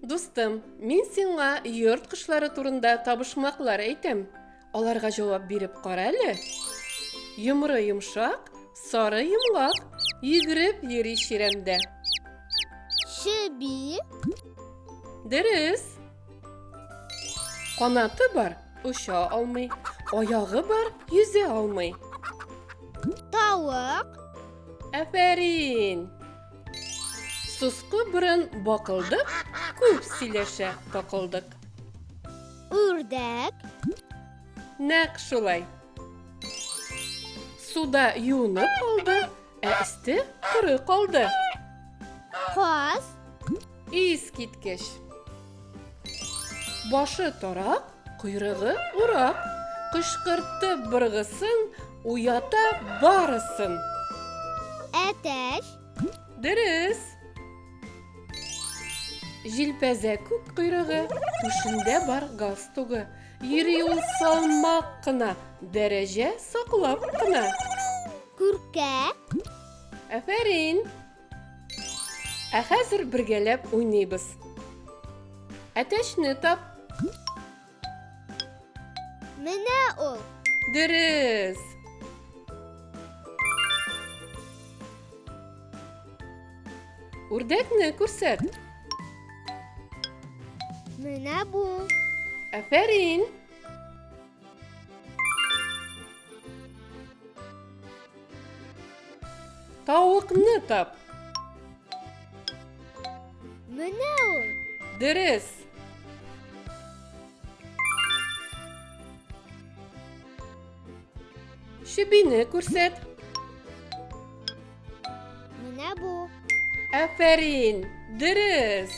Дустым, мин сиңа йорт кошлары турында табышмаклар әйтәм. Аларга җавап биреп кара әле. Йомры йомшак, сары йомгак, йөгереп йөри чирәмдә. Чеби. Дөрес. Канаты бар, оча алмый. Аягы бар, йөзә алмый. Тавык. Афәрин. Суску борын бакылдык, күп сөйләшә такылдык. үрдәк. Нәкъ шулай. Суда юынып калды, ә өсте коры калды. Каз. Ис киткеч. Башы тарак, койрыгы урак. Кышкыртты быргысын, уята барысын. Әтәч. Дөрес. Җилпәзә күк койрыгы, түшендә бар галстугы. Йөри ул салмак кына, дәрәҗә саклап кына. Күркә. Афәрин. Ә хәзер бергәләп уйныйбыз. Әтәчне тап. Менә ул. Дөрес. Үрдәкне күрсәт. Менә бу. Афәрин. Тавыкны тап. Менә ул. Дөрес. Чебине күрсәт. Менә бу. Афәрин, дөрес.